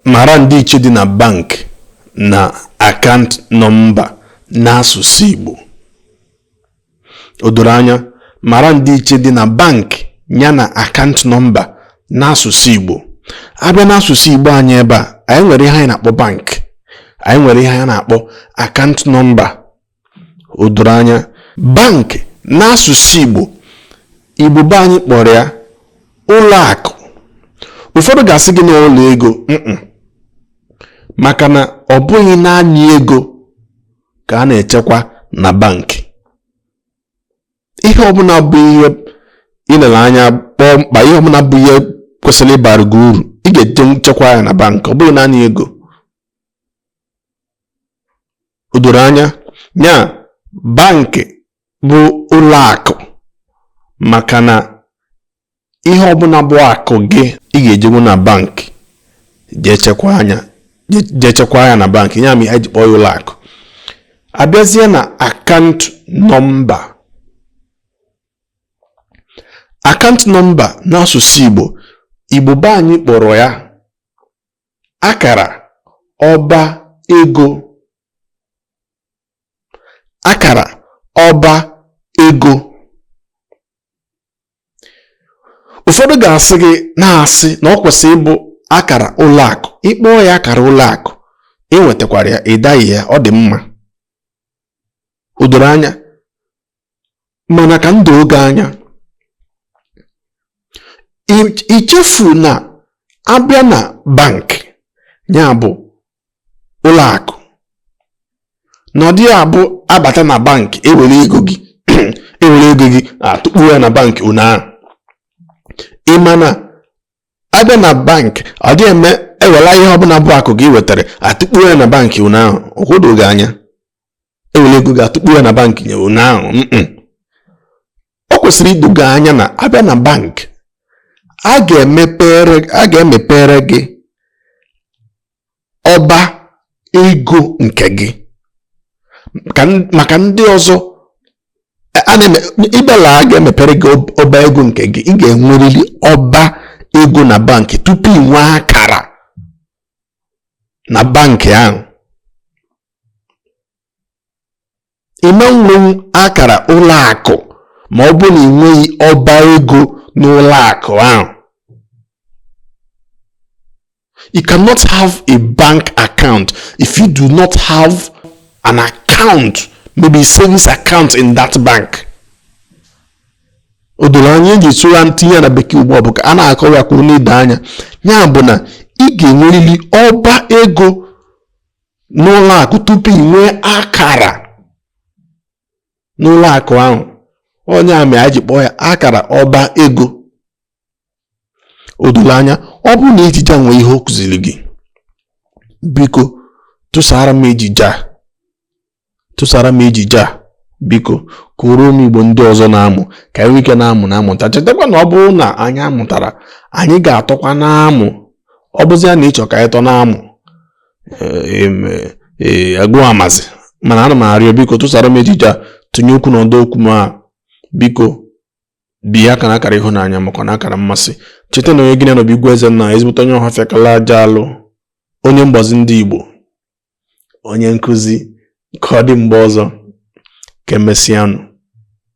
Mara ndịiche dị na bank na akant nọmba n'asụsụ Igbo. O doro anya, mara ndịiche dị na bank ya na akant nọmba n'asụsụ Igbo. A bịa n'asụsụ Igbo anyị ebe a, anyị nwere ihe anyị na-akpọ bank, anyị nwere ihe anyị na-akpọ akant nọmba. o doro anya bank n'asụsụ Igbo Igbo be anyị kpọrọ ya ụlọ akụ ụfọdụ ga-asị gị na ụlọ ego maka na ọ bụghị naanị ego ka a na-echekwa na bankị ihe ọbụla bụ ihe i lere anya kpọọ mkpa ihe ọbụla bụ ihe kwesịrị ịbara gị uru ị ga-eje echekwa ya na bankị ọ bụghị naanị ego o doro anya ya bankị bụ ụlọ akụ maka na ihe ọbụla bụ akụ gị ị ga-ejenwu na bankị jee chekwa ya jee chekwa ya na bankị ya mere e ji kpọọ ya ụlọ akụ a bịazie na akant nọmba akant nọmba n'asụsụ Igbo Igbo be anyị kpọrọ ya akara ọba ego akara ọba ego ụfọdụ ga-asị gị na-asị na ọ kwesịrị ịbụ akara ụlọ akụ ị kpọọ ya akara ụlọ akụ ị nwetakwara ya ị daghị ya ọ dị mma o doro anya mana ka o doo gị anya echefuna a bịa na bank ya bụ ụlọ akụ na ọ dịghị abụ a bata na bank ewere ego gị ewere ego gị atụkpu ya na bank ụnyaahụ ị ma na a bịa na bank ọ dịghị eme ewela ihe ọbụla bụ akụ gị i wetara atụkpu ya na bank ụnyaahụ ka o doo gị anya ewere ego gị atụkpu ya na bank nye ụnyaahụ ọ kwesịrị ido gị anya na a bịa na bank a ga-emepere gị ọba ego nke gị maka ndị ọzọ ị bịala a ga-emepere gị ọba ego nke gị ị ga-enwerịrị ọba ego na bank tupu ị nwee akara na bank ahụ ị ma nwenwu akara ụlọ akụ ma ọ bụ na ị nweghị ọba ego n'ụlọ akụ ahụ you cannot have a bank account if you do not have an account maybe a savings account in that bank o doro anya eji sụra ntinye na bekee ugbu a bụ ka a na-akọwa ya ka ọ na-edo anya ya bụ na ị ga-enwerịrị ọba ego n'ụlọ akụ tupu ị nwee akara n'ụlọ akụ ahụ ọ nya mere e ji kpọọ ya akara ọba ego o doro anya ọ bụrụ na ejije a nwee ihe ọ kụziri gị biko tụsara m ejije a tụsara m ejije a biko ka ụmụ igbo ndị ọzọ na-amụ ka anyị nwee ike na-amụ na-amụta chetakwa na ọ bụrụ na anyị amụtara anyị ga-atọkwa na-amụ ọ bụzi ya na ịchọ ka anyị tọ na-amụ agụụ amazi mana ana m arịọ biko tụsara m ejije a tụnye okwu na ọdọ okwu ma biko bịa aka na akara ịhụnanya makwa na akara mmasị cheta na onye gị na ya nọ bụ igwe eze nna ezigbote onye ọhafịa kala aja alụ onye mgbazi ndị igbo onye nkụzi ka ọ dị mgbe ọzọ ka emesịanụ